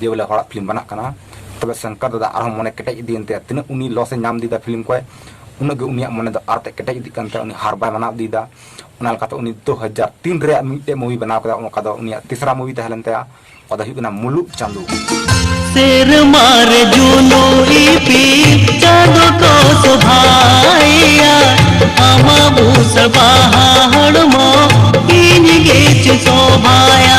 ᱡᱮ ᱵᱚᱞᱮ ᱦᱚᱲᱟᱜ ᱯᱷᱤᱞᱢ ᱵᱟᱱᱟᱜ ᱠᱟᱱᱟ ᱛᱚᱵᱮ ᱥᱚᱝᱠᱟᱨ ᱫᱟᱫᱟ ᱟᱨᱦᱚᱸ ᱢᱚᱱᱮ ᱠᱮᱴᱮᱡ ᱤᱫᱤᱭᱮᱱ ᱛᱟᱭᱟ ᱛᱤᱱᱟᱹᱜ ᱩᱱᱤ ᱞᱚᱥ ᱮ ᱧᱟᱢ ᱤᱫᱤᱭᱮᱫᱟ ᱯᱷᱤᱞᱢ ᱠᱚᱭ ᱩᱱᱟᱹᱜ ᱜᱮ ᱩᱱᱤᱭᱟᱜ ᱢᱚᱱᱮ ᱫᱚ ᱟᱨᱛᱮ ᱠᱮᱴᱮᱡ ᱤᱫᱤᱜ ᱠᱟᱱ ᱛᱟᱭᱟ ᱩᱱᱤ ᱦᱟᱨ ᱵᱟᱭ ᱢᱟᱱᱟᱣ ᱤᱫᱤᱭᱮᱫᱟ ᱚᱱᱟ ᱞᱮᱠᱟᱛᱮ ᱩᱱᱤ ᱫᱩ ᱦᱟᱡᱟᱨ ᱛᱤᱱ ᱨᱮᱭᱟᱜ ᱢᱤᱫᱴᱮᱡ ᱢᱩᱵᱷᱤ ᱵᱮᱱᱟᱣ ᱠᱮᱫᱟ ᱚᱱᱠᱟ ᱫᱚ ᱩᱱᱤᱭᱟᱜ ᱛᱤᱥᱨᱟ ᱢᱩᱵᱷᱤ ᱛᱟᱦᱮᱸ ᱞᱮᱱ ᱛᱟᱭᱟ ᱚᱱᱟ ᱫᱚ ᱦᱩᱭᱩᱜ ᱠᱟᱱᱟ ᱢᱩᱞᱩᱜ ᱪᱟᱸᱫᱳ ᱥᱮᱨᱢᱟ ᱨᱮ ᱡᱩᱱᱩ ᱤᱯᱤᱞ ᱪᱟᱸᱫᱳ ᱠᱚ ᱥᱚᱵᱷᱟᱭᱟ ᱟᱢᱟ ᱵᱩᱥ ᱵᱟᱦᱟ ᱦᱚᱲᱢᱚ ᱤᱧ ᱜᱮ ᱪᱮ ᱥᱚᱵᱷᱟᱭᱟ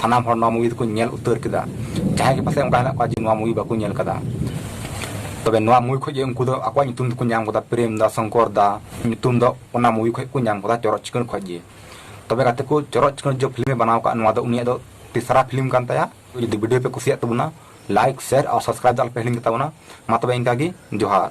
ᱥᱟᱱᱟᱢ ᱦᱚᱲ ᱱᱚᱣᱟ ᱢᱩᱵᱷᱤ ᱫᱚᱠᱚ ᱧᱮᱞ ᱩᱛᱟᱹᱨ ᱠᱮᱫᱟ ᱡᱟᱦᱟᱸᱭ ᱜᱮ ᱯᱟᱥᱮᱡ ᱚᱱᱠᱟ ᱦᱮᱱᱟᱜ ᱠᱚᱣᱟ ᱡᱮ ᱱᱚᱣᱟ ᱢᱩᱵᱷᱤ ᱵᱟᱠᱚ ᱧᱮᱞ ᱠᱟᱫᱟ ᱛᱚᱵᱮ ᱱᱚᱣᱟ ᱢᱩᱵᱷᱤ ᱠᱷᱚᱡ ᱜᱮ ᱩᱱᱠᱩ ᱫᱚ ᱟᱠᱚᱣᱟᱜ ᱧᱩᱛᱩᱢ ᱫᱚᱠᱚ ᱧᱟᱢ ᱠᱟᱫᱟ ᱯᱨᱮᱢ ᱫᱟ ᱥᱚᱝᱠᱚᱨ ᱫᱟ ᱧᱩᱛᱩᱢ ᱫᱚ ᱚᱱᱟ ᱢᱩᱵᱷᱤ ᱠᱷᱚᱡ ᱠᱚ ᱧᱟᱢ ᱠᱟᱫᱟ ᱪᱚᱨᱚᱠ ᱪᱤᱠᱟᱹᱲ ᱠᱷᱚᱡ ᱜᱮ ᱛᱚᱵᱮ ᱜᱟᱛᱮ ᱠᱚ ᱪᱚᱨᱚᱠ ᱪᱤᱠᱟᱹᱲ ᱡᱮ ᱯᱷᱤᱞᱢᱮ ᱵᱮᱱᱟᱣ ᱠᱟᱜ ᱱᱚᱣᱟ ᱫᱚ ᱩᱱᱤᱭᱟᱜ ᱫᱚ ᱛᱮᱥᱨᱟ ᱯᱷᱤᱞᱢ ᱠᱟᱱ ᱛᱟᱭᱟ ᱡᱩᱫᱤ ᱵᱷᱤᱰᱤᱭᱳ ᱯᱮ ᱠᱩᱥᱤᱭᱟᱜ ᱛᱟᱵᱚᱱᱟ ᱞᱟᱭᱤᱠ ᱥᱮᱭᱟᱨ ᱟᱨ ᱥᱟᱵᱥᱠᱨᱟᱭᱤᱵ ᱫᱚ ᱟᱞᱯᱮ ᱦᱤᱲᱤᱧ ᱛᱟᱵᱚᱱᱟ ᱢᱟ ᱛᱚᱵᱮ ᱤᱱᱠᱟ ᱜᱮ ᱡᱚᱦᱟᱨ